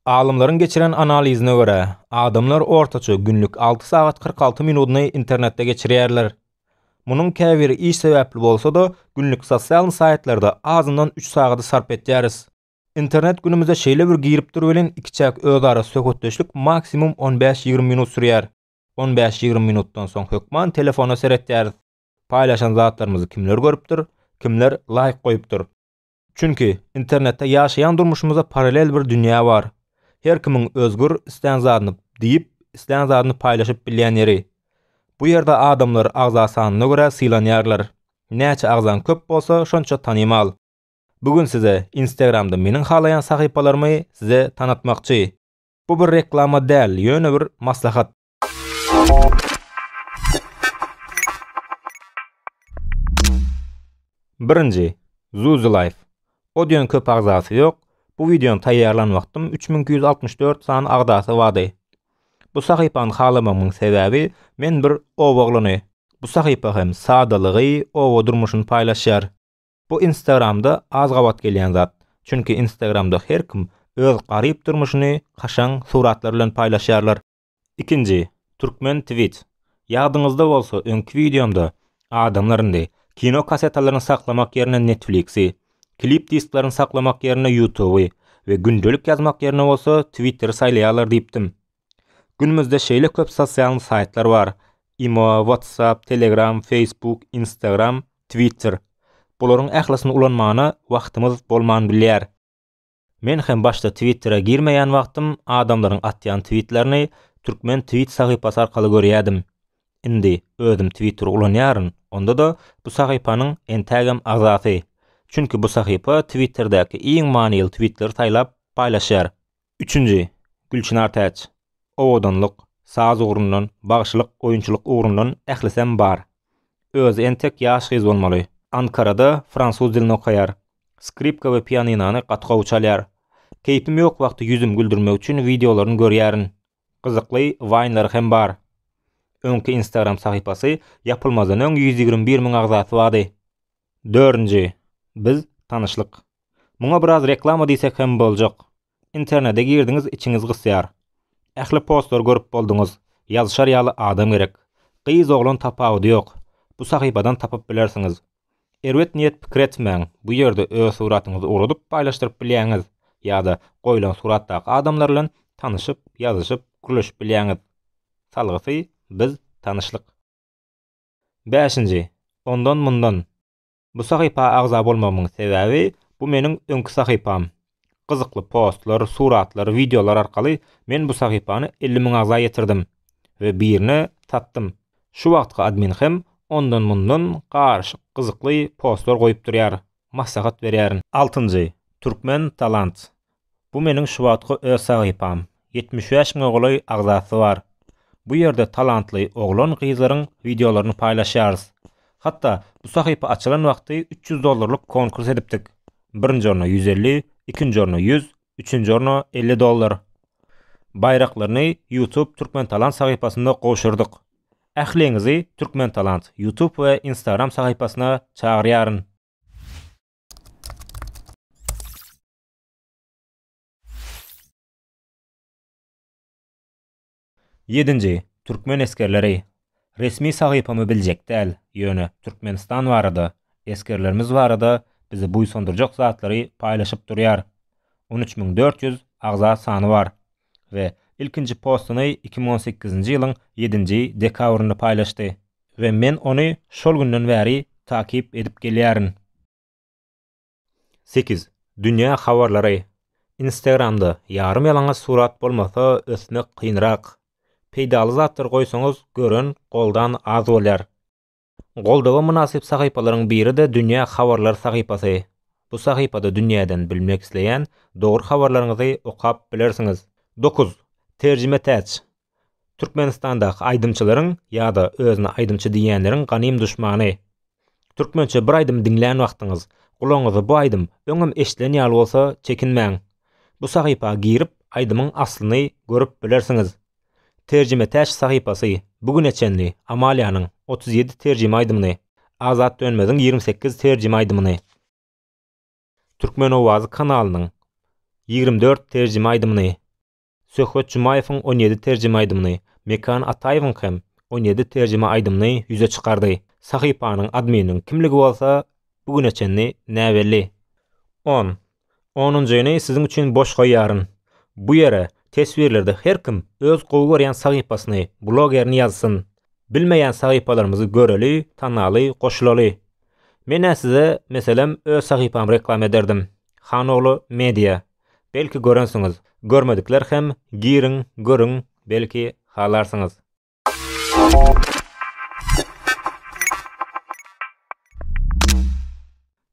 Alymlaryň geçiren analizine görä, adamlar ortaça günlük alty sagat kyrk alty minudyny internetde geçirýärler. Munuň käbiri iş sebäpli bolsa-da, günlük sosial saýtlarda azyndan üç sagady sarp etýäris. Internet günümize şeýle bir girip dur welin, ikiçäk özara söhbetdeşlik maksimum on bäş-ýigrimi minut sürýär. On bäş-ýigrimi minutdan soň hökman telefona seretýäris. Paýlaşan zatlarymyzy kimler görüpdir, kimler laýk goýupdyr? Çünki, internetde ýaşaýan durmuşymyzda paralel bir dünýä bar. Her kimiň özgür, islän zadyny diýip, islän zadyny paýlaşyp bilýän ýeri. Bu ýerde adamlar agza sanyna görä sylanýarlar. Näçe agzaň köp bolsa, şonça tanymal. Bu gün size Instagramda meniň halaýan sahypalarymy size tanatmakçy. Bu bir reklama däl, ýöne bir maslahat. Birinji, Zuzu Life. Odyon köp agzasy ýok. Bu wideony taýýarlan wagtym 3264 sany agzasy bardy. Bu sahypany halamagymyň sebäbi men bir oba oglyny. Bu sahypa hem sadalygy, oba durmuşyny paýlaşýar. Bu Instagramda az gabat gelýän zat. Çünki Instagramda her kim öz garyp durmuşyny kaşaň suratlar bilen paýlaşýarlar. Ikinji, Türkmen Twitch. Ýadyňyzda bolsa öňki wideomda adamlar indi kino kassetalaryny saklamak ýerine Netflixi, klip disklaryny saklamak ýerine Youtuby we gündelik ýazmak ýerine bolsa Twitteri saýlaýarlar diýipdim. Günümizde şeýle köp sosialny saýtlar bar, imo, whatsapp, telegram, facebook, instagram, twitter. Bularyň ählisini ulanmana wagtymyz bolman bilýär. Men hem başda Twittere girmeýän wagtym adamlaryň atýan twitlerini Türkmen twit sahypasy arkaly görýädim. Indi özüm Twitter ulanýaryn, onda-da bu sahypanyň entägem agzasy. Çünki bu sahypa Twitterdäki iň manyly twitleri saýlap paýlaşýar. Üçünji, Gülçynar Täç. Owadanlyk, saz ugrundan, bagşylyk, oýunçylyk ugrundan ählisem bar. Özi entek ýaş gyz bolmaly. Ankarada fransuz dilini okaýar. Skripka we pianinony gaty gowy çalýar. Keýpim ýok wagty ýüzüm güldürmek üçin wideolaryny görýärin. Gyzykly waýnlary hem bar. Öňki instagram sahypasy ýapylmazdan öň ýüz ýigrimi bir müň agzasy bardy. Dördünji. Biz tanyşlyk. Muňa biraz reklama diýsek hem boljak. Internede girdiňiz içiňiz gysýar. Ähli postlary görüp bolduňyz. Ýazyşar ýaly adam gerek. Gyz oglan tapawudy ýok. Bu sahypadan tapyp bilersiňiz. Erbet niýet pikir etmäň, bu ýerde öz suratyňyzy ugradyp paýlaşdyryp bilýäňiz ýa-da goýlan suratdaky adamlar bilen tanyşyp, ýazyşyp, gürleşip bilýäňiz. Salgysy, biz, tanyşlyk. Bäşinji, ondan-mundan. Bu sahypa agza bolmagymyň sebäbi, bu meniň öňki sahypam. Gyzykly postlar, suratlar, wideolar arkaly men bu sahypany elli müň agza ýetirdim we birine satdym. Şu wagtky admin hem ondan-mundan garyşyk gyzykly postlar goýup durýar. Maslahat berýärin. Altynjy, Turkmen Talants. Bu meniň şu wagtky öz sahypam. Ýetmiş bäş müňe golaý agzasy bar. Bu ýerde talantly oglan-gyzlaryň wideolaryny paýlaşýarys. Hatda bu sahypa açylan wagty üç ýüz dollarlyk konkurs edipdik. Birinji orna ýüz elli, ikinji orna ýüz, üçünji orna elli dollar. Baýraklaryny YouTube Türkmentalant sahypasynda gowşurdyk. Ähliňizi Türkmentalant YouTube we Instagram sahypasyna çagyrýaryn. Ýedinji, türkmen esgerleri, Resmi sahypamy biljek däl, ýöne Türkmenistan barada, esgerlerimiz barada bizi buýsandyrjak zatlary paýlaşyp durýar. On üç müň dört ýüz agza sany bar we ilkinji postuny iki müň on sekizinji ýylyň ýedinji dekabrynda paýlaşdy we men ony şol günden bäri takyp edip gelýärin. Sekiz, Dünýä habarlary Instagramda ýarym ýalaňaç surat bolmasa ösmek kynrak. Peýdaly zatlar goýsaňyz gören, goldan az bolýar. Goldawa mynasyp sahypalaryň biri-de Dünýä habarlary sahypasy. Bu sahypada dünýäden bilmek isleýän dogry habarlaryňyzy okap bilersiňiz. Dokuz, Terjime Täç Türkmenistandaky aýdymçylaryň ýa-da özüne aýdymçy diýýänleriň ganym duşmany. Türkmençe bir aýdym diňlän wagtyňyz, gulagyňyza bu aýdym öňem eşdilen ýaly bolsa çekinmäň. Bu sahypa girip aýdymyň aslyny görüp bilersiňiz. Terjimetäç sahypasy bu güne çenli Amaliýanyň otuz ýedi terjime aýdymyny, Azat Dönmeziň ýigrimi sekiz terjime aýdymyny, Türkmenowazy kanalynyň ýigrimi dört terjime aýdymyny, Söhbet Jumaýewiň on ýedi terjime aýdymyny, Mekan Ataýewiň hem on ýedi terjime aýdymyny ýüze çykardy. Sahypanyň admininiň kimligi bolsa bu güne çenli näbelli. On. Onunjyny siziň üçin boş goýýaryn. Bu ýere teswirlerde her kim öz gowy görýän sahypasyny, blogerini ýazsyn. Bilmeýän sahypalarymyzy göreli, tanaly, goşulaly. Men-ä size, meselem, öz sahypamy reklama ederdim. Hanoglu Media. Belki görensiňiz, görmedikler hem giriň, görüň, belki halarsyňyz.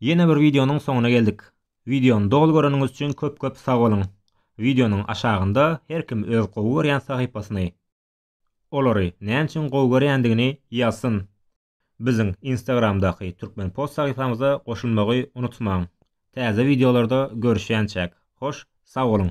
Ýene bir wideonyň soňuna geldik. Wideony doly göreniňiz üçin köp köp sag boluň. Wideonyň aşagynda her kim öz gowy görýän sahypasyny, olary näme üçin gowy görýändigini ýazsyn. Biziň Instagramdaky Turkmenpost sahypamyza goşulmagy unutmaň! Täze wideolarda görüşýänçäk, hoş sag boluň!